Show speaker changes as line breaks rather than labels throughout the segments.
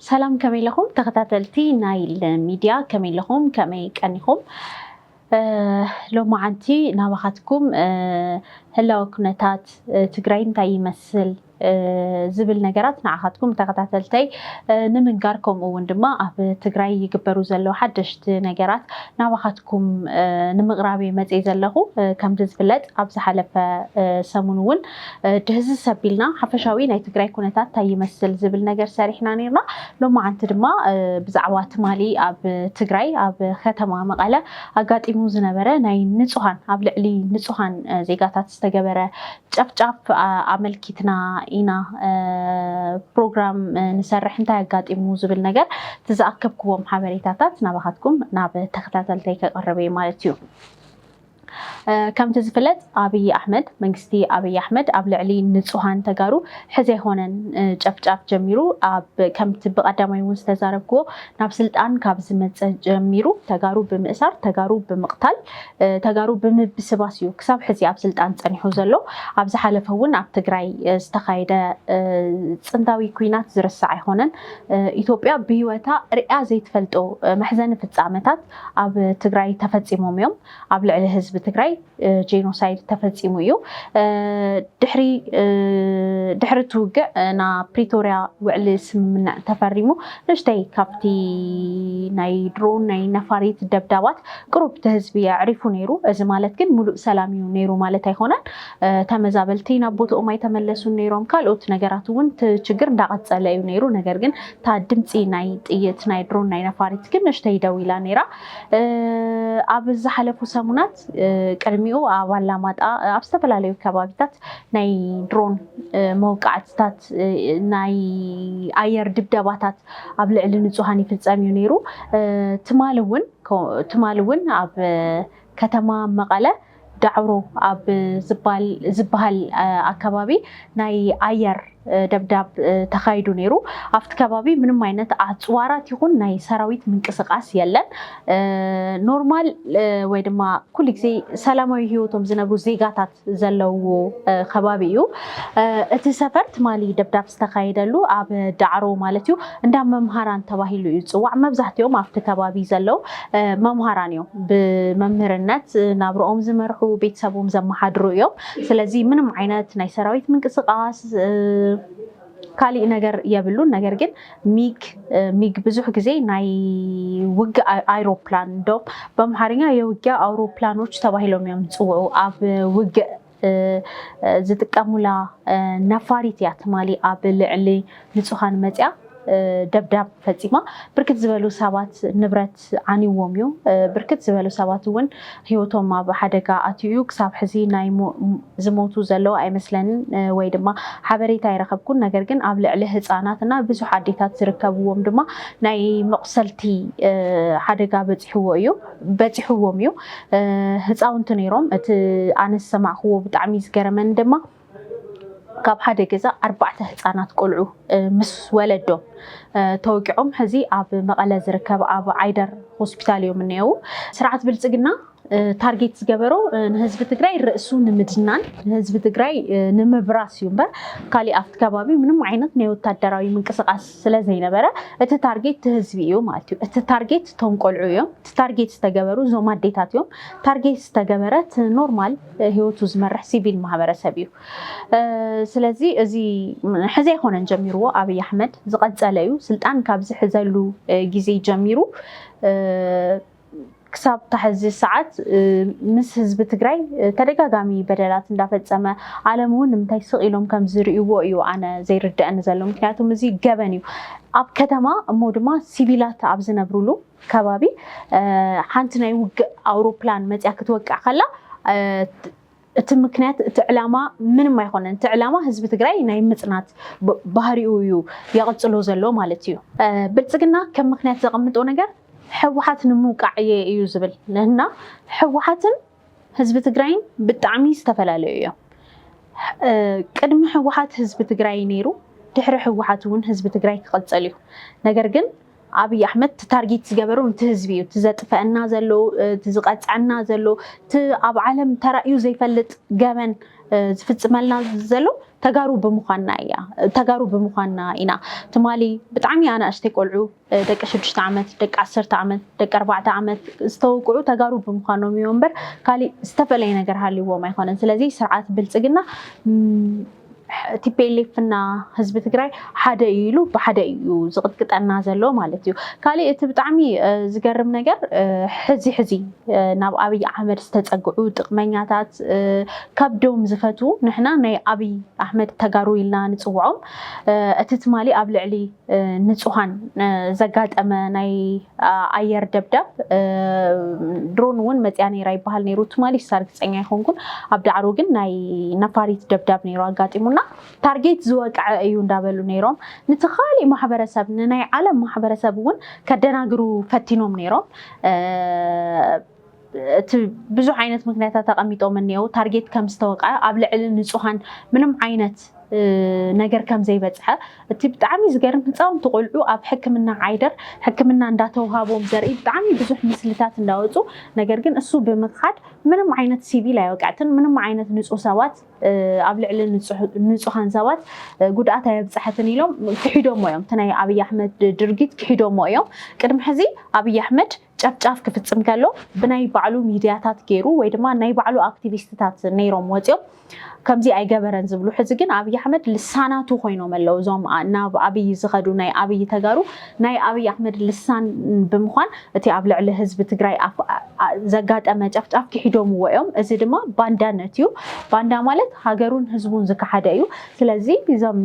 ሰላም ከመይ ኣለኹም ተኸታተልቲ ናይል ሚድያ ከመይ ኣለኹም ከመይ ቀኒኹም ሎማዓንቲ ናባኻትኩም ህላወ ኩነታት ትግራይ እንታይ ይመስል ዝብል ነገራት ንዓኻትኩም ተኸታተልተይ ንምንጋር ከምኡ እውን ድማ ኣብ ትግራይ ይግበሩ ዘለዉ ሓደሽቲ ነገራት ናባኻትኩም ንምቕራብ እየ መፅየ ዘለኹ። ከምቲ ዝፍለጥ ኣብ ዝሓለፈ ሰሙን እውን ድህዝዝ ሰቢልና ሓፈሻዊ ናይ ትግራይ ኩነታት እንታይ ይመስል ዝብል ነገር ሰሪሕና ነይርና። ሎማዓንቲ ድማ ብዛዕባ ትማሊ ኣብ ትግራይ ኣብ ከተማ መቐለ ኣጋጢሙ ዝነበረ ናይ ንፁሃን ኣብ ልዕሊ ንፁሃን ዜጋታት ዝተገበረ ጨፍጫፍ ኣመልኪትና ኢና ፕሮግራም ንሰርሕ እንታይ ኣጋጢሙ ዝብል ነገር እቲ ዝኣከብክዎም ሓበሬታታት ናባኻትኩም ናብ ተኸታተልተይ ከቐርብ እየ ማለት እዩ። ከምቲ ዝፍለጥ ኣብይ ኣሕመድ መንግስቲ ኣብይ ኣሕመድ ኣብ ልዕሊ ንፁሃን ተጋሩ ሕዚ ኣይኮነን ጨፍጫፍ ጀሚሩ ከምቲ ብቀዳማይ እውን ዝተዛረብክዎ ናብ ስልጣን ካብ ዝመፀ ጀሚሩ ተጋሩ ብምእሳር ተጋሩ ብምቕታል ተጋሩ ብምብስባስ እዩ ክሳብ ሕዚ ኣብ ስልጣን ፀኒሑ ዘሎ። ኣብ ዝሓለፈ እውን ኣብ ትግራይ ዝተኻየደ ፅንታዊ ኩናት ዝርሳዕ ኣይኾነን። ኢትዮጵያ ብህይወታ ሪኣ ዘይትፈልጦ መሕዘኒ ፍፃመታት ኣብ ትግራይ ተፈፂሞም እዮም። ኣብ ልዕሊ ህዝቢ ትግራይ ጄኖሳይድ ተፈፂሙ እዩ። ድሕሪ ድሕሪ እቲ ውግዕ ናብ ፕሪቶሪያ ውዕሊ ስምምዕ ተፈሪሙ ንእሽተይ ካብቲ ናይ ድሮን ናይ ነፋሪት ደብዳባት ቅሩብ ተህዝቢ ኣዕሪፉ ነይሩ። እዚ ማለት ግን ሙሉእ ሰላም እዩ ነይሩ ማለት ኣይኾነን። ተመዛበልቲ ናብ ቦትኦም ኣይተመለሱን ነይሮም። ካልኦት ነገራት እውን እቲ ችግር እንዳቐፀለ እዩ ነይሩ። ነገር ግን እታ ድምፂ ናይ ጥይት፣ ናይ ድሮን፣ ናይ ነፋሪት ግን ንእሽተይ ደው ኢላ ነይራ። ኣብ ዝሓለፉ ሰሙናት ቅድሚኡ ኣብ ኣላማጣ ኣብ ዝተፈላለዩ ከባቢታት ናይ ድሮን መውቃዕትታት ናይ ኣየር ድብደባታት ኣብ ልዕሊ ንፁሃን ይፍፀም እዩ ነይሩ። ትማሊ እውን ትማሊ እውን ኣብ ከተማ መቐለ ዳዕሮ ኣብ ዝበሃል ኣከባቢ ናይ ኣየር ደብዳብ ተኻይዱ ነይሩ። ኣብቲ ከባቢ ምንም ዓይነት ኣፅዋራት ይኹን ናይ ሰራዊት ምንቅስቓስ የለን። ኖርማል ወይ ድማ ኩሉ ግዜ ሰላማዊ ህይወቶም ዝነብሩ ዜጋታት ዘለውዎ ከባቢ እዩ። እቲ ሰፈር ትማሊ ደብዳብ ዝተኻየደሉ ኣብ ዳዕሮ ማለት እዩ እንዳ መምሃራን ተባሂሉ እዩ ዝፅዋዕ። መብዛሕትኦም ኣብቲ ከባቢ ዘለው መምሃራን እዮም። ብመምህርነት ናብርኦም ዝመርሑ ቤተሰቦም ዘመሓድሩ እዮም። ስለዚ ምንም ዓይነት ናይ ሰራዊት ምንቅስቃስ ካሊእ ነገር የብሉን ነገር ግን ሚግ ሚግ ብዙሕ ግዜ ናይ ውግእ ኣይ- ኣይሮፕላን እንደውም በምሓርኛ የውጊያ ኣውሮፕላኖች ተባሂሎም እዮም ዝፅውዑ ኣብ ውግእ እ፣ እ፣ ዝጥቀሙላ እ፣ ነፋሪት እያ ትማሊ ኣብ ልዕሊ ንፁሃን መፂኣ እ፣ ደብዳብ ፈፂማ ብርክት ዝበሉ ሰባት ንብረት ዓንይዎም'ዩ። ብርክት ዝበሉ ሰባት'ውን ህይወቶም ኣብ ሓደጋ ኣትዩ'ዩ። ክሳብ ሕዚ ናይ ዝሞቱ ዘለዉ ኣይመስለንን ወይ ድማ ሓበሬታ ኣይረኸብኩን። ነገር ግን ኣብ ልዕሊ ህፃናት እና ብዙሕ ኣዴታት ዝርከብዎም ድማ ናይ መቑሰልቲ ሓደጋ በፂሕዎ እዩ በፂሕዎም እዩ። ህፃውንቲ ነይሮም። እቲ ኣነ ዝሰማዕክዎ ብጣዕሚ ዝገረመኒ ድማ። ካብ ሓደ ገዛ ኣርባዕተ ህፃናት ቆልዑ ምስ ወለዶም ተወቂዖም ሕዚ ኣብ መቐለ ዝርከብ ኣብ ዓይደር ሆስፒታል እዮም እኒአው። ስርዓት ብልፅግና ታርጌት ዝገበሮ ንህዝቢ ትግራይ ርእሱ ንምድናን ንህዝቢ ትግራይ ንምብራስ እዩ እምበር ካሊእ ኣብቲ ከባቢ ምንም ዓይነት ናይ ወታደራዊ ምንቅስቃስ ስለዘይነበረ እቲ ታርጌት እቲ ህዝቢ እዩ ማለት እዩ። እቲ ታርጌት እቶም ቆልዑ እዮም። እቲ ታርጌት ዝተገበሩ እዞም ኣዴታት እዮም። ታርጌት ዝተገበረ እቲ ኖርማል ሂወቱ ዝመርሕ ሲቪል ማህበረሰብ እዩ ስለዚ እዚ ሕዚ ኣይኮነን ጀሚርዎ ኣብይ ኣሕመድ ዝቀፀለ እዩ ስልጣን ካብ ዝሕዘሉ ግዜ ጀሚሩ ክሳብ ታሕዚ ሰዓት ምስ ህዝቢ ትግራይ ተደጋጋሚ በደላት እንዳፈፀመ ዓለም እውን ንምንታይ ስቕ ኢሎም ከም ዝርእይዎ እዩ ኣነ ዘይርድአኒ ዘሎ ምክንያቱም እዚ ገበን እዩ ኣብ ከተማ እሞ ድማ ሲቪላት ኣብ ዝነብሩሉ ከባቢ ሓንቲ ናይ ውግእ ኣውሮፕላን መፅያ ክትወቅዕ ከላ እቲ ምክንያት እቲ ዕላማ ምንም ኣይኮነን። እቲ ዕላማ ህዝቢ ትግራይ ናይ ምፅናት ባህሪኡ እዩ የቕፅሎ ዘሎ ማለት እዩ። ብልፅግና ከም ምክንያት ዘቐምጦ ነገር ህወሓት ንምውቃዕ እየ እዩ ዝብል እና ህወሓትን ህዝቢ ትግራይን ብጣዕሚ ዝተፈላለዩ እዮም። ቅድሚ ህወሓት ህዝቢ ትግራይ ነይሩ፣ ድሕሪ ህወሓት እውን ህዝቢ ትግራይ ክቕፅል እዩ። ነገር ግን ኣብይ ኣሕመድ እቲ ታርጊት ዝገበሮ ንቲ ህዝቢ እዩ እቲ ዘጥፈእና ዘሎ እቲ ዝቀፅዐና ዘሎ እቲ ኣብ ዓለም ተራእዩ ዘይፈልጥ ገበን ዝፍፅመልና ዘሎ ተጋሩ ብምኳንና እያ ተጋሩ ብምኳንና ኢና ትማሊ ብጣዕሚ ኣናእሽተይ ቆልዑ ደቂ ሽዱሽተ ዓመት ደቂ ዓሰርተ ዓመት ደቂ ኣርባዕተ ዓመት ዝተወቅዑ ተጋሩ ብምኳኖም እዮም እምበር ካሊእ ዝተፈለየ ነገር ሃልዎም ኣይኮነን ስለዚ ስርዓት ብልፅግና ቲፒኤልኤፍ እና ህዝቢ ትግራይ ሓደ እዩ ኢሉ ብሓደ እዩ ዝቕጥቅጠና ዘሎ ማለት እዩ። ካሊእ እቲ ብጣዕሚ ዝገርም ነገር ሕዚ ሕዚ ናብ ኣብይ ኣሕመድ ዝተፀግዑ ጥቅመኛታት ከብዶም ዝፈቱ ንሕና ናይ ኣብይ ኣሕመድ ተጋሩ ኢልና ንፅውዖም እቲ ትማሊ ኣብ ልዕሊ ንፁሃን ዘጋጠመ ናይ ኣየር ደብዳብ ድሮን እውን መፅያ ነይራ ይበሃል ነይሩ ትማሊ እሳ ርግፀኛ ኣይኮንኩን ኣብ ዳዕሮ ግን ናይ ነፋሪት ደብዳብ ነይሩ ኣጋጢሙና ታርጌት ዝወቅዐ እዩ እንዳበሉ ነይሮም ንቲ ካሊእ ማሕበረሰብ ንናይ ዓለም ማሕበረሰብ እውን ከደናግሩ ፈቲኖም ነይሮም እቲ ብዙሕ ዓይነት ምክንያታት ኣቐሚጦም እኔዉ። ታርጌት ከም ዝተወቕዐ፣ ኣብ ልዕሊ ንፁሃን ምንም ዓይነት ነገር ከም ዘይበፅሐ፣ እቲ ብጣዕሚ ዝገርም ህፃውንቲ ቆልዑ ኣብ ሕክምና ዓይደር ሕክምና እንዳተውሃቦም ዘርኢ ብጣዕሚ ብዙሕ ምስልታት እንዳወፁ ነገር ግን እሱ ብምኽሓድ ምንም ዓይነት ሲቪል ኣይወቅዐትን ምንም ዓይነት ንፁህ ሰባት ኣብ ልዕሊ ንፁሃን ሰባት ጉድኣት ኣየብፀሐትን ኢሎም ክሒዶሞ እዮም። እቲ ናይ ኣብይ ኣሕመድ ድርጊት ክሒዶሞ እዮም። ቅድሚ ሕዚ ኣብይ ኣሕመድ ጨፍጫፍ ክፍፅም ከሎ ብናይ ባዕሉ ሚድያታት ገይሩ ወይ ድማ ናይ ባዕሉ ኣክቲቪስትታት ነይሮም ወፂኦም ከምዚ ኣይገበረን ዝብሉ ሕዚ ግን ኣብይ ኣሕመድ ልሳናቱ ኮይኖም ኣለው እዞም ናብ ኣብይ ዝኸዱ ናይ ኣብይ ተጋሩ ናይ ኣብይ ኣሕመድ ልሳን ብምኳን እቲ ኣብ ልዕሊ ህዝቢ ትግራይ ዘጋጠመ ጨፍጫፍ ክሒዶምዎ እዮም እዚ ድማ ባንዳነት እዩ ባንዳ ማለት ሃገሩን ህዝቡን ዝከሓደ እዩ ስለዚ እዞም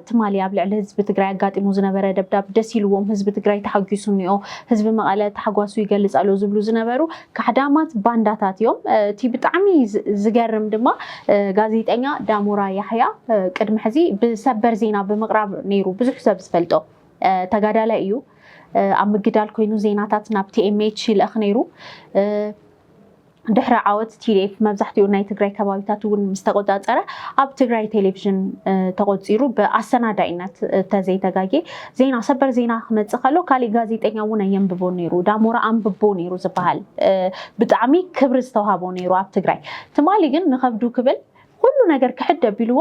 ትማሊ ኣብ ልዕሊ ህዝቢ ትግራይ ኣጋጢሙ ዝነበረ ደብዳብ ደስ ኢልዎም ህዝቢ ትግራይ ተሓጒሱ እኒኦ ህዝቢ መቐለ ታሕጓሱ ይገልፅ ኣሎ ዝብሉ ዝነበሩ ካሕዳማት ባንዳታት እዮም። እቲ ብጣዕሚ ዝገርም ድማ ጋዜጠኛ ዳሞራ ያሕያ ቅድሚ ሕዚ ብሰበር ዜና ብምቕራብ ነይሩ ብዙሕ ሰብ ዝፈልጦ ተጋዳላይ እዩ። ኣብ ምግዳል ኮይኑ ዜናታት ናብ ቲኤምኤች ይልእኽ ነይሩ። ድሕሪ ዓወት ቲዲኤፍ መብዛሕትኡ ናይ ትግራይ ከባቢታት እውን ምስ ተቆፃፀረ ኣብ ትግራይ ቴሌቭዥን ተቆፂሩ ብኣሰናዳኢነት ተዘይተጋጌ ዜና ሰበር ዜና ክመፅእ ከሎ ካሊእ ጋዜጠኛ እውን ኣየንብቦ ነይሩ ዳሞራ ኣንብቦ ነይሩ ዝበሃል ብጣዕሚ ክብሪ ዝተውሃቦ ነይሩ ኣብ ትግራይ ትማሊ ግን ንከብዱ ክብል ኩሉ ነገር ክሕድ ኣቢልዎ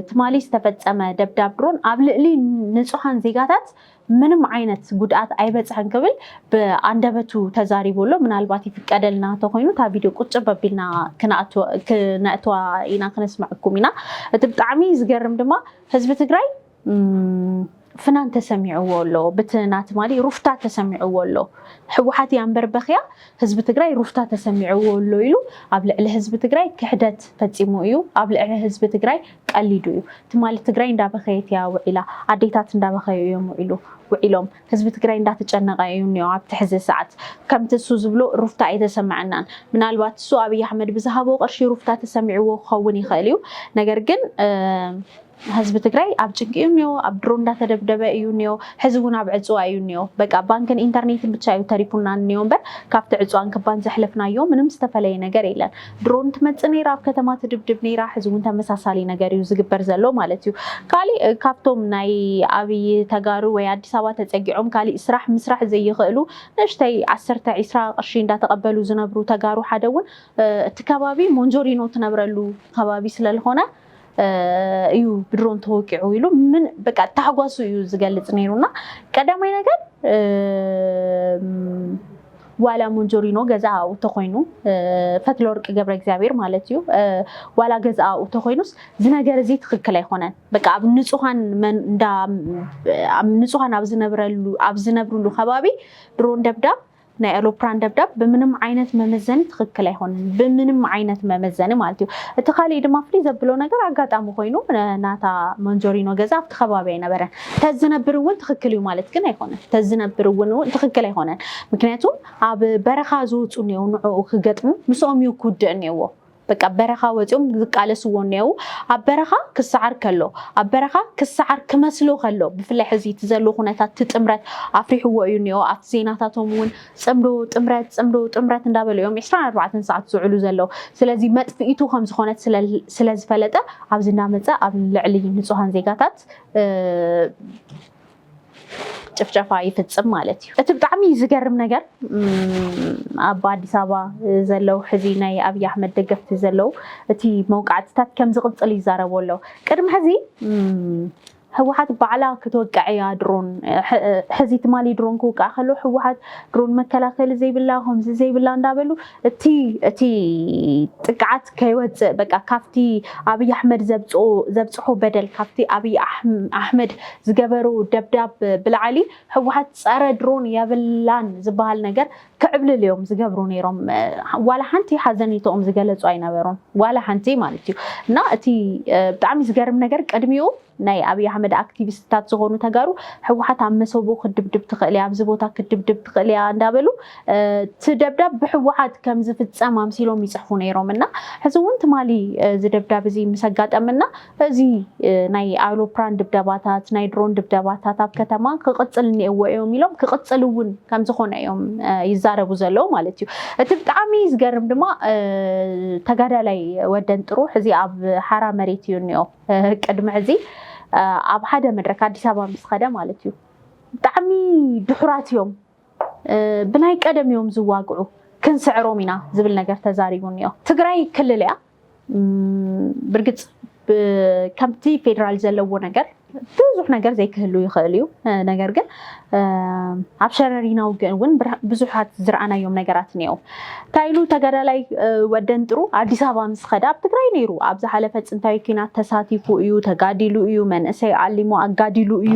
ትማሊ ዝተፈፀመ ደብዳብ ድሮን ኣብ ልዕሊ ንፁሃን ዜጋታት ምንም ዓይነት ጉድኣት ኣይበፅሐን ክብል ብኣንደበቱ ተዛሪቡ ኣሎ ምናልባት ይፍቀደልና ተኮይኑ እታ ቪድዮ ቁጭ በቢልና ክነእትዋ ኢና ክነስመዐኩም ኢና እቲ ብጣዕሚ ዝገርም ድማ ህዝቢ ትግራይ ፍናን ተሰሚዕዎ ኣሎ ብቲ ናቲ ማሊ ሩፍታ ተሰሚዕዎ ኣሎ ሕወሓት እያ እምበር በክያ ህዝቢ ትግራይ ሩፍታ ተሰሚዕዎ ኣሎ ኢሉ ኣብ ልዕሊ ህዝቢ ትግራይ ክሕደት ፈፂሙ እዩ ኣብ ልዕሊ ህዝቢ ትግራይ ቀሊዱ እዩ ትማሊ ትግራይ እንዳበኸየት እያ ውዒላ ኣዴታት እንዳበኸዩ እዮም ውዒሉ ውዒሎም ህዝቢ ትግራይ እንዳተጨነቀ እዩ እኒኦ ኣብቲ ሕዚ ሰዓት ከምቲ እሱ ዝብሎ ሩፍታ ኣይተሰመዐናን ምናልባት እሱ ኣብይ ኣሕመድ ብዝሃቦ ቅርሺ ሩፍታ ተሰሚዕዎ ክኸውን ይኽእል እዩ ነገር ግን ህዝቢ ትግራይ ኣብ ጭንቂ እዩ እኒኦ ኣብ ድሮ እንዳተደብደበ እዩ እኒኦ ሕዚ እውን ኣብ ዕፅዋ እዩ እኒኦ በቃ ባንክን ኢንተርኔትን ብቻ እዩ ተሪፉና እኒኦ እምበር ካብቲ ዕፅዋን ክባን ዘሕለፍናዮ ምንም ዝተፈለየ ነገር የለን ድሮን ትመፅእ ነይራ ኣብ ከተማ ትድብድብ ነይራ ሕዚ እውን ተመሳሳሊ ነገር እዩ ዝግበር ዘሎ ማለት እዩ ካሊእ ካብቶም ናይ ኣብይ ተጋሩ ወይ ኣዲስ ኣበባ ተፀጊዖም ካሊእ ስራሕ ምስራሕ ዘይኽእሉ ንእሽተይ ዓሰርተ ዒስራ ቅርሺ እንዳተቀበሉ ዝነብሩ ተጋሩ ሓደ እውን እቲ ከባቢ ሞንጆሪኖ ትነብረሉ ከባቢ ስለልኾነ እዩ ብድሮን ተወቂዑ ኢሉ ምን በቃ ታሕጓሱ እዩ ዝገልፅ ነይሩ እና ቀዳማይ ነገር ዋላ ሞንጆሪኖ ገዛኣኡ ተኮይኑ ፈትለ ወርቂ ገብረ እግዚኣብሔር ማለት እዩ ዋላ ገዛኣኡ ተኮይኑስ ዝነገር እዚ ትክክል ኣይኮነን በቃ ኣብ ንፁሃን ንፁሃን ኣብ ዝነብረሉ ኣብ ዝነብርሉ ከባቢ ድሮን ደብዳብ ናይ ኤሎፕራን ደብዳብ ብምንም ዓይነት መመዘኒ ትኽክል ኣይኾንን ብምንም ዓይነት መመዘኒ ማለት እዩ እቲ ካሊእ ድማ ፍልይ ዘብሎ ነገር ኣጋጣሚ ኮይኑ ናታ መንዞሪኖ ገዛ ኣብቲ ከባቢ ኣይነበረን ተዝነብር እውን ትኽክል እዩ ማለት ግን ኣይኾነን ተዝነብር እውን ትኽክል ኣይኾነን ምክንያቱ ኣብ በረኻ ዝውፁ እኒው ንዕኡ ክገጥሙ ምስኦም እዩ ክውድእ እኒዎ በቃ በረኻ ወጺኦም ዝቃለስዎ እኔዉ ኣብ በረኻ ክሰዓር ከሎ ኣብ በረኻ ክሰዓር ክመስሎ ከሎ ብፍላይ ሕዚ እቲ ዘሎ ኩነታት እቲ ጥምረት ኣፍሪሕዎ እዩ እኔዎ ኣብቲ ዜናታቶም እውን ጽምዶ ጥምረት ጽምዶ ጥምረት እንዳበሉ እዮም 24 ሰዓት ዝውዕሉ ዘለዉ ስለዚ መጥፍኢቱ ከም ዝኾነት ስለ ዝፈለጠ ኣብዚ እናመጸ ኣብ ልዕሊ ንጹሃን ዜጋታት ጭፍጨፋ ይፍፅም ማለት እዩ። እቲ ብጣዕሚ ዝገርም ነገር ኣብ ኣዲስ ኣበባ ዘለው ሕዚ ናይ ኣብይ ኣሕመድ ደገፍቲ ዘለው እቲ መውቃዕትታት ከም ዝቕፅል ይዛረቡ ኣለው። ቅድሚ ሕዚ ህወሓት ባዕላ ክትወቅዕ እያ ድሮን ሕዚ ትማሊ ድሮን ክውቃዕ ከሎ ህወሓት ድሮን መከላከሊ ዘይብላ ከምዚ ዘይብላ እንዳበሉ እቲ እቲ ጥቅዓት ከይወፅእ በቃ ካብቲ ኣብይ ኣሕመድ ዘብፅኦ ዘብፅሖ በደል ካብቲ ኣብይ ኣሕ- ኣሕመድ ዝገበሮ ደብዳብ ብላዕሊ ህወሓት ፀረ ድሮን የብላን ዝበሃል ነገር ክዕብልል እዮም ዝገብሩ ነይሮም እ፣ ዋላ ሓንቲ ሓዘኔትኦም ዝገለፁ ኣይነበሩን ዋላ ሓንቲ ማለት እዩ እና እቲ እ፣ ብጣዕሚ ዝገርም ነገር ቅድሚኡ ናይ ኣብይ ኣሕመድ ኣክቲቪስትታት ዝኾኑ ተጋሩ ህወሓት ኣብ መሰቡ ክትድብድብ ትኽእል እያ፣ ኣብዚ ቦታ ክትድብድብ ትኽእል እያ እንዳበሉ እቲ ደብዳብ ብህወሓት ከም ዝፍፀም ኣምሲሎም ይፅሕፉ ነይሮም እና ሕዚ እውን ትማሊ እዚ ደብዳብ እዚ ምስ ኣጋጠመና እዚ ናይ ኣውሮፕራን ድብደባታት ናይ ድሮን ድብደባታት ኣብ ከተማ ክቕፅል እኒኤዎ እዮም ኢሎም ክቕፅል እውን ከም ዝኾነ እዮም ይዛረቡ ዘለዉ ማለት እዩ። እቲ ብጣዕሚ ዝገርም ድማ ተጋዳላይ ወደን ጥሩሕ እዚ ኣብ ሓራ መሬት እዩ እኒኦ። ቅድሚ ሕዚ ኣብ ሓደ መድረክ ኣዲስ ኣበባ ምስ ኸደ ማለት እዩ ብጣዕሚ ድሑራት እዮም ብናይ ቀደም እዮም ዝዋግዑ ክንስዕሮም ኢና ዝብል ነገር ተዛሪቡ እኒኦ። ትግራይ ክልል እያ ብርግፅ ከምቲ ፌዴራል ዘለዎ ነገር ብዙሕ ነገር ዘይክህሉ ይኽእል እዩ ነገር ግን ኣብ ሸረሪና ውግእ እውን ብዙሓት ዝረኣናዮም ነገራት እኒአው። እንታይ ኢሉ ተጋዳላይ ወደንጥሩ ኣዲስ ኣበባ ምስ ኸደ ኣብ ትግራይ ነይሩ። ኣብ ዝሓለፈ ፅንታዊ ኲናት ተሳቲፉ እዩ፣ ተጋዲሉ እዩ፣ መንእሰይ ዓሊሙ ኣጋዲሉ እዩ፣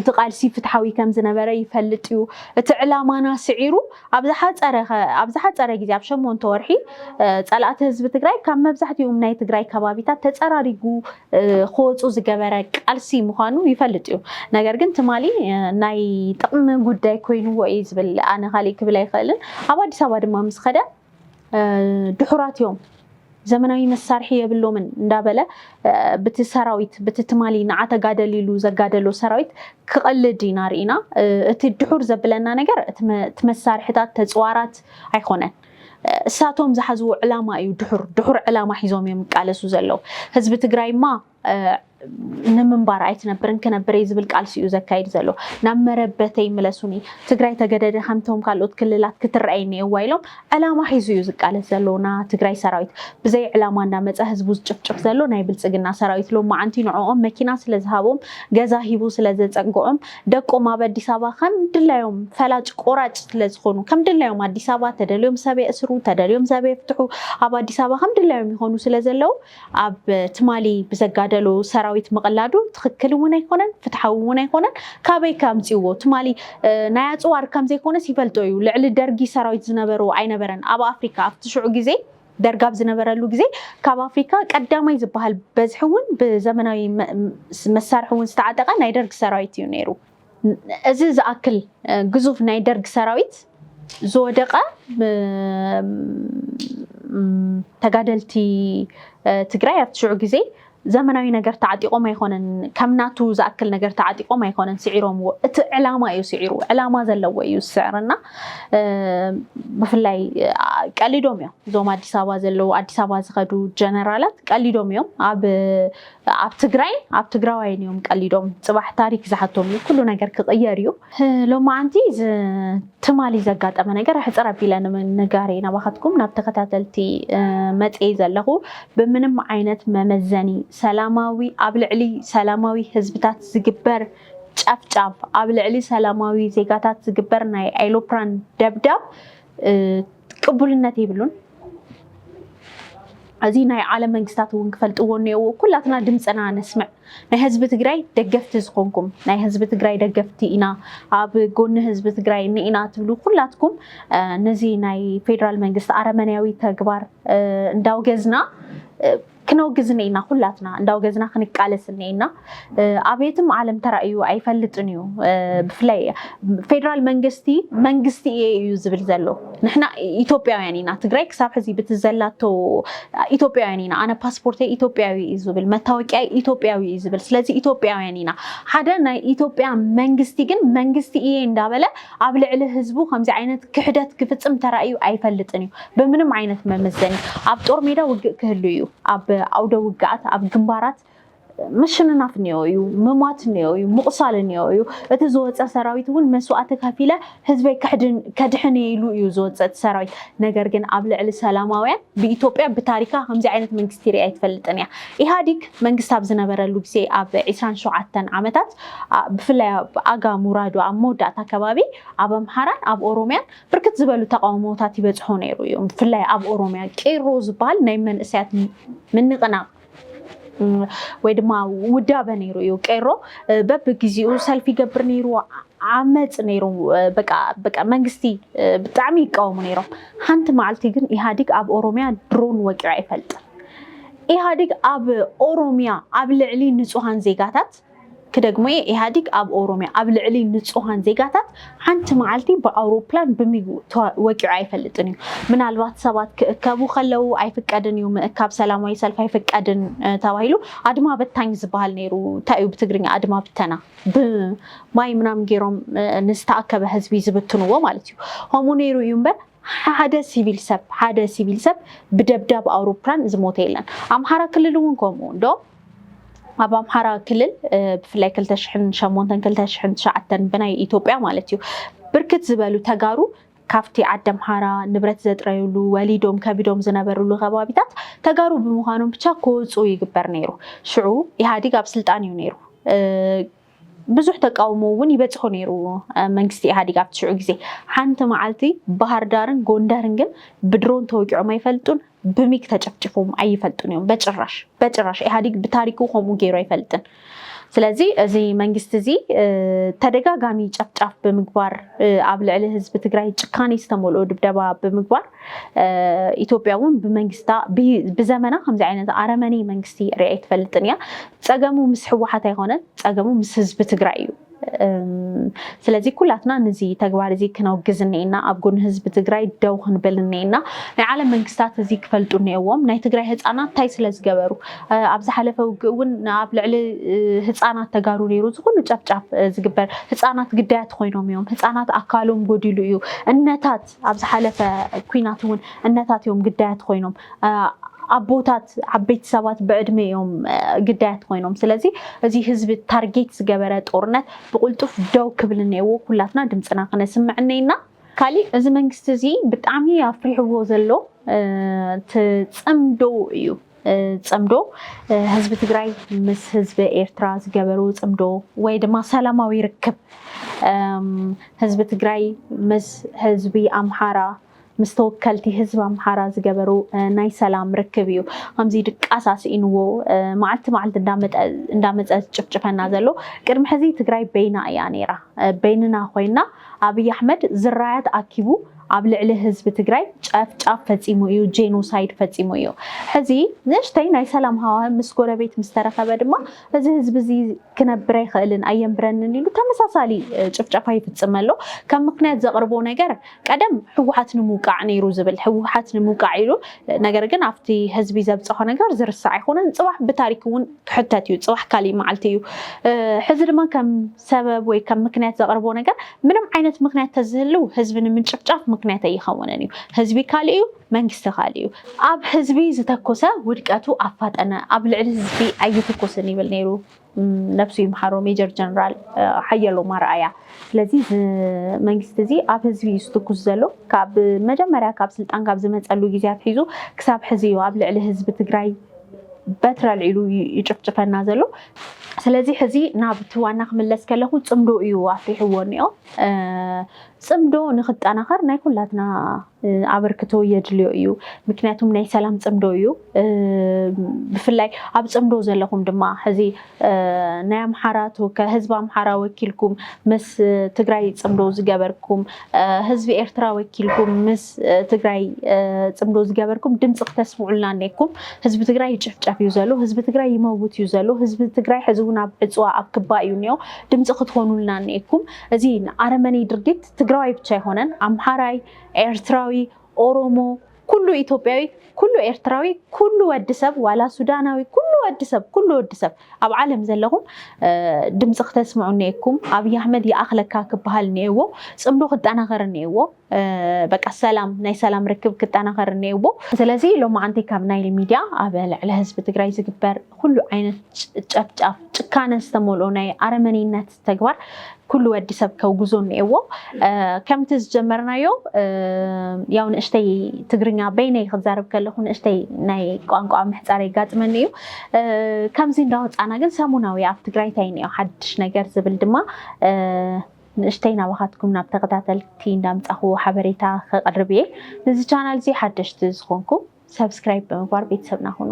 እቲ ቃልሲ ፍትሓዊ ከም ዝነበረ ይፈልጥ እዩ። እቲ ዕላማና ስዒሩ ኣብ ዝሓፀረ ኣብ ዝሓፀረ ግዜ ኣብ ሸሞንተ ወርሒ ፀላእቲ ህዝቢ ትግራይ ካብ መብዛሕትኦም ናይ ትግራይ ከባቢታት ተፀራሪጉ ክወፁ ዝገበረ ቃልሲ ምዃኑ ይፈልጥ እዩ። ነገር ግን ትማሊ ናይ ጥቕሚ ጉዳይ ኮይንዎ እዩ ዝብል ኣነ ካሊእ ክብል ኣይኽእልን። ኣብ ኣዲስ ኣበባ ድማ ምስ ኸደ ድሑራት እዮም ዘመናዊ መሳርሒ የብሎምን እንዳበለ ብቲ ሰራዊት ብቲ ትማሊ ንዓ ተጋደል ኢሉ ዘጋደሎ ሰራዊት ክቐልድ ኢና ርኢና። እቲ ድሑር ዘብለና ነገር እቲ መሳርሕታት ተፅዋራት ኣይኮነን። እሳቶም ዝሓዝዎ ዕላማ እዩ ድሑር ድሑር ዕላማ ሒዞም እዮም ይቃለሱ ዘለው ህዝቢ ትግራይማ ንምንባር ኣይትነብርን ክነብር እየ ዝብል ቃልሲ እዩ ዘካይድ ዘሎ ናብ መረበተይ ምለሱኒ ትግራይ ተገደደ ከምቶም ካልኦት ክልላት ክትረኣይ እኒኤዋ ኢሎም ዕላማ ሒዙ እዩ ዝቃለስ ዘሎ ና ትግራይ ሰራዊት ብዘይ ዕላማ እንዳመፀ ህዝቡ ዝጭፍጭፍ ዘሎ ናይ ብልፅግና ሰራዊት ሎማዓንቲ ንዕኦም መኪና ስለዝሃቦም ገዛ ሂቡ ስለዘፀግዖም ደቆም ኣብ ኣዲስ ኣበባ ከም ድላዮም ፈላጭ ቆራጭ ስለ ዝኾኑ ከም ድላዮም ኣዲስ ኣበባ ተደልዮም ሰብ የእስሩ ተደልዮም ሰብ የፍትሑ ኣብ ኣዲስ ኣበባ ከም ድላዮም ይኾኑ ስለ ዘለዉ ኣብ ትማሊ ብዘጋደሎ ሰራዊት ምቕላዱ ትኽክል እውን ኣይኮነን ፍትሓዊ እውን ኣይኮነን ካበይ ከምፅዎ ትማሊ ናይ ኣፅዋር ከም ዘይኮነስ ይፈልጦ እዩ ልዕሊ ደርጊ ሰራዊት ዝነበሮ ኣይነበረን ኣብ ኣፍሪካ ኣብቲ ሽዑ ግዜ ደርግ ኣብ ዝነበረሉ ግዜ ካብ ኣፍሪካ ቀዳማይ ዝበሃል በዝሒ እውን ብዘመናዊ መሳርሒ እውን ዝተዓጠቐ ናይ ደርግ ሰራዊት እዩ ነይሩ። እዚ ዝኣክል ግዙፍ ናይ ደርግ ሰራዊት ዝወደቐ ተጋደልቲ ትግራይ ኣብቲ ሽዑ ግዜ ዘመናዊ ነገር ተዓጢቆም ኣይኮነን ከም ናቱ ዝኣክል ነገር ተዓጢቆም ኣይኮነን ስዒሮምዎ እቲ ዕላማ እዩ ስዒሩ ዕላማ ዘለዎ እዩ ዝስዕረና ብፍላይ ቀሊዶም እዮም እዞም ኣዲስ ኣበባ ዘለዉ ኣዲስ ኣበባ ዝኸዱ ጀነራላት ቀሊዶም እዮም ኣብ ኣብ ትግራይ ኣብ ትግራዋይን እዮም ቀሊዶም ፅባሕ ታሪክ ዝሓቶም እዩ ኩሉ ነገር ክቅየር እዩ ሎማዓንቲ ትማሊ ዘጋጠመ ነገር ኣሕፅር ኣቢለ ንምንጋር እየ ናባኻትኩም ናብ ተኸታተልቲ መፅየ ዘለኹ። ብምንም ዓይነት መመዘኒ ሰላማዊ ኣብ ልዕሊ ሰላማዊ ህዝብታት ዝግበር ጨፍጫፍ፣ ኣብ ልዕሊ ሰላማዊ ዜጋታት ዝግበር ናይ ኣይሎፕራን ደብዳብ ቅቡልነት የብሉን እዚ ናይ ዓለም መንግስታት እውን ክፈልጥዎ እኒኦዎ ኩላትና ድምፅና ነስምዕ ናይ ህዝቢ ትግራይ ደገፍቲ ዝኾንኩም ናይ ህዝቢ ትግራይ ደገፍቲ ኢና ኣብ ጎኒ ህዝቢ ትግራይ እኒኢና ትብሉ ኩላትኩም ነዚ ናይ ፌደራል መንግስቲ ኣረመንያዊ ተግባር እንዳውገዝና ክነውግዝ እኔና ኩላትና እንዳውገዝና ክንቃለስ እኔና ኣብ የትም ዓለም ተራእዩ ኣይፈልጥን እዩ ብፍላይ ፌደራል መንግስቲ መንግስቲ እየ እዩ ዝብል ዘሎ ንሕና ኢትዮጵያውያን ኢና ትግራይ ክሳብ ሕዚ ብቲ ዘላቶ ኢትዮጵያውያን ኢና ኣነ ፓስፖርተይ ኢትዮጵያዊ እዩ ዝብል መታወቂያ ኢትዮጵያዊ እዩ ዝብል ስለዚ ኢትዮጵያውያን ኢና ሓደ ናይ ኢትዮጵያ መንግስቲ ግን መንግስቲ እየ እንዳበለ ኣብ ልዕሊ ህዝቡ ከምዚ ዓይነት ክሕደት ክፍጽም ተራእዩ ኣይፈልጥን እዩ። ብምንም ዓይነት መመዘኒ ኣብ ጦር ሜዳ ውግእ ክህሉ እዩ። ኣብ ኣውደ ውግኣት፣ ኣብ ግንባራት ምሽንናፍ እኒኦ እዩ፣ ምሟት እኒኦ እዩ፣ ምቑሳል እኒኦ እዩ። እቲ ዝወጸ ሰራዊት እውን መስዋእቲ ከፊለ ህዝበይ ከድሕን እየ ኢሉ እዩ ዝወጽእ እቲ ሰራዊት። ነገር ግን ኣብ ልዕሊ ሰላማውያን ብኢትዮጵያ ብታሪካ ከምዚ ዓይነት መንግስቲ ሪኣ ኣይትፈልጥን እያ። ኢህኣዲግ መንግስቲ ኣብ ዝነበረሉ ግዜ ኣብ ዕስራን ሸውዓተን ዓመታት ብፍላይ ኣብ ኣጋ ሙራዶ ኣብ መወዳእታ ከባቢ ኣብ ኣምሓራን ኣብ ኦሮምያን ብርክት ዝበሉ ተቓውሞታት ይበጽሖ ነይሩ እዩ። ብፍላይ ኣብ ኦሮምያ ቄሮ ዝበሃል ናይ መንእሰያት ምንቕናቕ ወይ ድማ ውዳበ ነይሩ እዩ ቄሮ በብግዜኡ ሰልፊ ይገብር ነይሩ ዓመፅ ነይሩ በቃ በቃ መንግስቲ ብጣዕሚ ይቃወሙ ነይሮም ሓንቲ መዓልቲ ግን ኢህኣዲግ ኣብ ኦሮምያ ድሮን ወቂዑ ኣይፈልጥን ኢህኣዲግ ኣብ ኦሮምያ ኣብ ልዕሊ ንፁሃን ዜጋታት ክደግሞ እየ ኢህኣዲግ ኣብ ኦሮምያ ኣብ ልዕሊ ንፁሃን ዜጋታት ሓንቲ መዓልቲ ብኣውሮፕላን ብሚግ ወቂዑ ኣይፈልጥን እዩ ምናልባት ሰባት ክእከቡ ከለው ኣይፍቀድን እዩ ምእካብ ሰላማዊ ሰልፍ ኣይፍቀድን ተባሂሉ ኣድማ በታኝ ዝበሃል ነይሩ እንታይ እዩ ብትግርኛ ኣድማ ብተና ብማይ ምናምን ገይሮም ንዝተኣከበ ህዝቢ ዝብትንዎ ማለት እዩ ከምኡ ነይሩ እዩ እምበር ሓደ ሲቪል ሰብ ሓደ ሲቪል ሰብ ብደብዳብ ኣውሮፕላን ዝሞተ የለን። ኣምሓራ ክልል እውን ከምኡ እንዶ ኣብ ኣምሓራ ክልል ብፍላይ 2008 2009 ብናይ ኢትዮጵያ ማለት እዩ ብርክት ዝበሉ ተጋሩ ካብቲ ዓዲ ኣምሓራ ንብረት ዘጥረዩሉ ወሊዶም ከቢዶም ዝነበሩሉ ከባቢታት ተጋሩ ብምዃኖም ብቻ ክወፁ ይግበር ነይሩ። ሽዑ ኢህኣዲግ ኣብ ስልጣን እዩ ነይሩ። ብዙሕ ተቃውሞ እውን ይበፅሖ ነይሩ መንግስቲ ኢህኣዴግ ኣብቲ ሽዑ ግዜ። ሓንቲ መዓልቲ ባህርዳርን ጎንደርን ግን ብድሮን ተወቂዖም ኣይፈልጡን፣ ብሚግ ተጨፍጪፎም ኣይፈልጡን እዮም። በጭራሽ በጭራሽ ኢህኣዴግ ብታሪኩ ከምኡ ገይሩ ኣይፈልጥን። ስለዚ እዚ መንግስቲ እዚ ተደጋጋሚ ጨፍጫፍ ብምግባር ኣብ ልዕሊ ህዝቢ ትግራይ ጭካኔ ዝተመልኦ ድብደባ ብምግባር ኢትዮጵያ እውን ብመንግስታ ብዘመና ከምዚ ዓይነት ኣረመኔ መንግስቲ ሪኣ ኣይትፈልጥን እያ። ፀገሙ ምስ ህወሓት ኣይኮነን፣ ፀገሙ ምስ ህዝቢ ትግራይ እዩ። ስለዚ ኩላትና ነዚ ተግባር እዚ ክነውግዝ እኒኤና፣ ኣብ ጎኒ ህዝቢ ትግራይ ደው ክንብል እኒኤና። ናይ ዓለም መንግስታት እዚ ክፈልጡ እኒኤዎም። ናይ ትግራይ ህፃናት እንታይ ስለ ዝገበሩ ኣብ ዝሓለፈ ውግእ እውን ኣብ ልዕሊ ህፃናት ተጋሩ ነይሩ እዚ ኩሉ ጨፍጫፍ ዝግበር ህፃናት ግዳያት ኮይኖም እዮም። ህፃናት ኣካሎም ጎዲሉ እዩ። እነታት ኣብ ዝሓለፈ ኩናት እውን እነታት እዮም ግዳያት ኮይኖም ኣቦታት ዓበይቲ ሰባት ብዕድመ እዮም ግዳያት ኮይኖም ስለዚ እዚ ህዝቢ ታርጌት ዝገበረ ጦርነት ብቁልጡፍ ደው ክብል እነዎ ኩላትና ድምፅና ክነስምዕ እነይና ካሊእ እዚ መንግስቲ እዚ ብጣዕሚ ኣፍሪሕዎ ዘሎ እቲ ፅምዶ እዩ። ፅምዶ ህዝቢ ትግራይ ምስ ህዝቢ ኤርትራ ዝገበሩ ፅምዶ ወይ ድማ ሰላማዊ ርክብ ህዝቢ ትግራይ ምስ ህዝቢ ኣምሓራ ምስ ተወከልቲ ህዝቢ ኣምሓራ ዝገበሩ ናይ ሰላም ርክብ እዩ ከምዚ ድቃስ ኣስኢንዎ መዓልቲ መዓልቲ እንዳመፀ ዝጭፍጭፈና ዘሎ ቅድሚ ሕዚ ትግራይ በይና እያ ነይራ በይንና ኮይና ኣብይ ኣሕመድ ዝራያት ኣኪቡ ኣብ ልዕሊ ህዝቢ ትግራይ ጨፍጫፍ ፈፂሙ እዩ፣ ጄኖሳይድ ፈፂሙ እዩ። ሕዚ ንእሽተይ ናይ ሰላም ሃዋህብ ምስ ጎረቤት ምስ ተረኸበ ድማ እዚ ህዝቢ እዚ ክነብር ኣይኽእልን ኣየንብረንን ኢሉ ተመሳሳሊ ጭፍጨፋ ይፍፅም ኣሎ። ከም ምኽንያት ዘቕርቦ ነገር ቀደም ህወሓት ንምውቃዕ ነይሩ ዝብል ህወሓት ንምውቃዕ ኢሉ ነገር ግን ኣብቲ ህዝቢ ዘብፀሖ ነገር ዝርሳዕ ኣይኮነን። ፅባሕ ብታሪክ እውን ክሕተት እዩ፣ ፅባሕ ካሊእ መዓልቲ እዩ። ሕዚ ድማ ከም ሰበብ ወይ ከም ምክንያት ዘቅርቦ ነገር ምንም ዓይነት ምክንያት ተዝህልው ህዝቢ ንምንጭፍጫፍ ምክንያት ኣይኸውንን እዩ ህዝቢ ካልእ እዩ መንግስቲ ካልእ እዩ። ኣብ ህዝቢ ዝተኮሰ ውድቀቱ ኣፋጠነ ኣብ ልዕሊ ህዝቢ ኣይትኮስን ይብል ነይሩ ነብሱ ይምሓሮ ሜጀር ጀነራል ሓየሎም ኣርኣያ። ስለዚ እዚ መንግስቲ እዚ ኣብ ህዝቢ እዩ ዝትኩስ ዘሎ ካብ መጀመርያ ካብ ስልጣን ካብ ዝመፀሉ ግዜ ኣትሒዙ ክሳብ ሕዚ እዩ ኣብ ልዕሊ ህዝቢ ትግራይ በትሪ ኣልዒሉ እዩ ይጭፍጭፈና ዘሎ። ስለዚ ሕዚ ናብቲ ዋና ክምለስ ከለኹ ፅምዶ እዩ ኣፍሪሕዎ እኒኦ። ፅምዶ ንክጠናኸር ናይ ኩላትና ኣበርክቶ የድልዮ እዩ። ምክንያቱም ናይ ሰላም ፅምዶ እዩ። ብፍላይ ኣብ ፅምዶ ዘለኹም ድማ ሕዚ ናይ ኣምሓራ ተወካይ ህዝቢ ኣምሓራ ወኪልኩም ምስ ትግራይ ፅምዶ ዝገበርኩም ህዝቢ ኤርትራ ወኪልኩም ምስ ትግራይ ፅምዶ ዝገበርኩም ድምፂ ክተስምዑልና እኔኩም ህዝቢ ትግራይ ይጭፍጨፍ እዩ ዘሎ ህዝቢ ትግራይ ይመውት እዩ ዘሎ ህዝቢ ትግራይ ሕዚ እውን ኣብ ዕፅዋ ኣብ ክባ እዩ እኒኦ ድምፂ ክትሆኑልና እኔኩም እዚ ኣረመኔ ድርጊት ትግራዋይ ብቻ ኣይኮነን ኣምሓራይ ኤርትራዊ ኦሮሞ ኩሉ ኢትዮጵያዊ ኩሉ ኤርትራዊ ኩሉ ወዲ ሰብ ዋላ ሱዳናዊ ኩሉ ወዲ ሰብ ኩሉ ወዲ ሰብ ኣብ ዓለም ዘለኹም ድምፂ ክተስምዑ እኒኤኩም ኣብይ ኣሕመድ ይኣኽለካ ክበሃል እኒኤዎ ፅምዶ ክጠናኸር እኒኤዎ በቃ ሰላም ናይ ሰላም ርክብ ክጠናኸር እኒኤዎ ስለዚ ሎማዓንቲ ካብ ናይል ሚድያ ኣብ ልዕሊ ህዝቢ ትግራይ ዝግበር ኩሉ ዓይነት ጨፍጫፍ ጭካነ ዝተመልኦ ናይ ኣረመኔነት ተግባር ኩሉ ወዲ ሰብ ከውግዞ እኒኤዎ ከምቲ ዝጀመርናዮ ያው ንእሽተይ ትግርኛ በይነይ ክዛረብ ከለኹ ንእሽተይ ናይ ቋንቋ ምሕፃር የጋጥመኒ እዩ ከምዚ እንዳወፃና ግን ሰሙናዊ ኣብ ትግራይ እንታይ እኒኦ ሓድሽ ነገር ዝብል ድማ ንእሽተይ ናባኻትኩም ናብ ተኸታተልቲ እንዳምፃኹ ሓበሬታ ከቕርብ እየ ንዚ ቻናል እዚ ሓደሽቲ ዝኾንኩም ሰብስክራይብ ብምግባር ቤተሰብና ሁኑ